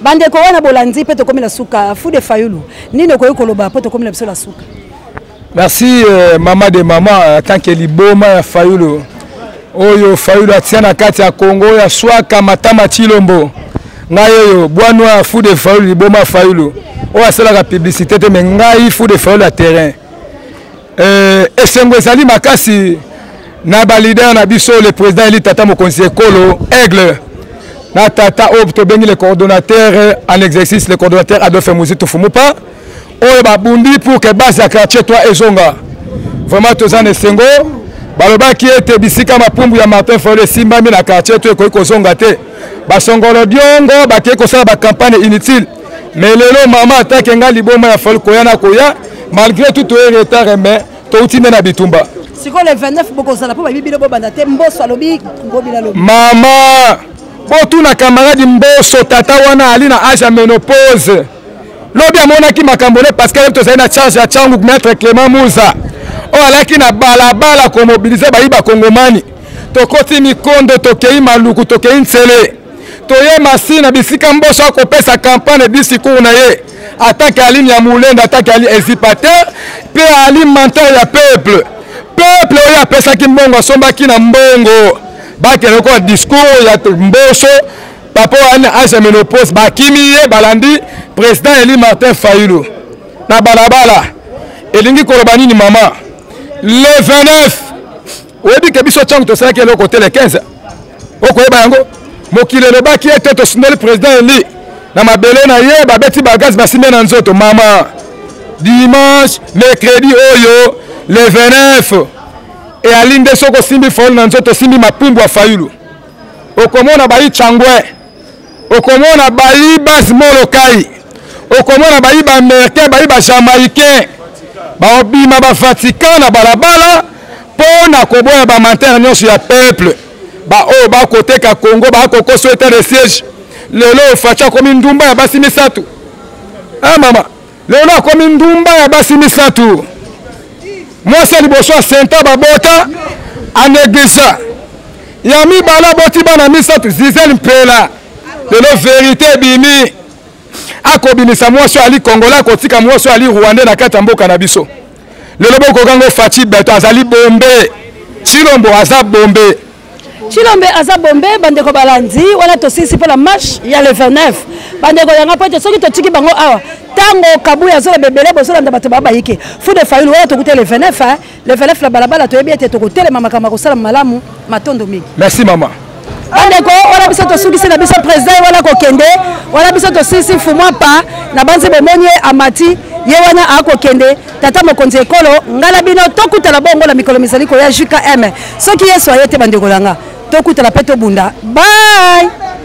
bandeko wana bolandi mpe tokomi na suka fude fayulu nini okoki koloba mpo tokomi na biso na suka merci euh, mama de mama atanke liboma ya fayulu oyo fayulu atia na kati ya kongo oyo aswaka matama cilombo ngai oyo bwa noir fou de fayulu liboma fayulu oyo asalaka publicité te me ngai fou de fayulu ya terrain Euh, esengo ezali makasi na balider na biso le président eli tata mokonzi ekolo aigle na tata oyo tobengi le coordonnateur en exercice le coordonnateur adolphe muzitu fumupa oyo babundi pour que base ya quartier 3 ezonga vraiment toza na esengo balobaki ete bisika mapumbu ya martin fayol esimbami na quartier to ekoki kozonga te basongolo diongo bakei kosala bacampagne inutile mais lelo mama atake nga liboma ya fali koya na koya malgré tout toye retard mais touti nde na bitumba sikoyo le 29 bokozala mpo bayebi bino bobanda te mboso alobi ngobila lobi mama botuna camarade mboso tata wana ali na age ya menopause lobi amonaki makambo ne parce que tozali na charge ya changu maître clément muza oyo alaki na balabala komobilize bayi bakongomani tokoti mikondo tokei maluku tokei nsele toye masi na bisika mboso akopesa campagne disikour na ye atake ali nyamulende atake ali ezipater mpe ali menteur ya peuple peuple oyo apesaki mbongo asombaki na mbongo bakende lokola discours ya mboso papa wana age menopause bakimi ye balandi président eli martin fayulu na balabala elingi koloba nini mama le 29 oyebi ke biso ntango tosalaki eloko te le 15 okoyeba yango mokili elobaki ete tosundoli président eli na mabele na ye babeti bagaz basimbe na nzoto mama dimanche mercredi oyo le 29 eyali nde soki osimbi faulu na nzoto osimbi mapumbu ya fayulu okomona bayi changwe okomona bayi bas molokai okomona bayi ba américain bayi ba jamaïcain baobima ba vatican na balabala mpo na koboya bamantere nyonso ya peuple baoyo bakoteka congo bakokoso etat de siège lelo faci akomi ndumba ya basi misato a ah, mama lelo akomi ndumba ya basi misato mwasi ya liboso asenta babota anegligea ya mibale aboti bana misato zizel mpela lelo verite ebimi akobimisa mwasi oyo ali kongola akotika mwasi oyo ali rwande na kati ya mboka na biso lelo bokokango faci beto azali bombe cilombo aza bombe Chilombe aza bombe bandeko balandi wana tosisi pona marche ya le 29 bandeko yanga po ete soki totiki bango awa tango kabuya azoloba ebele bozolanda bato babayike fu de fayulu wana tokuta le 29 le 29 na balabala toyebi ete tokotelema makambo akosala malamu matondo mingi merci mama bandeko wana biso tosukisi na biso président ye wana kokende wana biso tosisi fumwa pa na banzi bomoni ye amati ye wana akokende tata mokonzi ekolo ngai na bino tokutana bongo na mikolo mizali koya jkm soki yesu aye te bandeko na nga tokutana mpe tobunda bai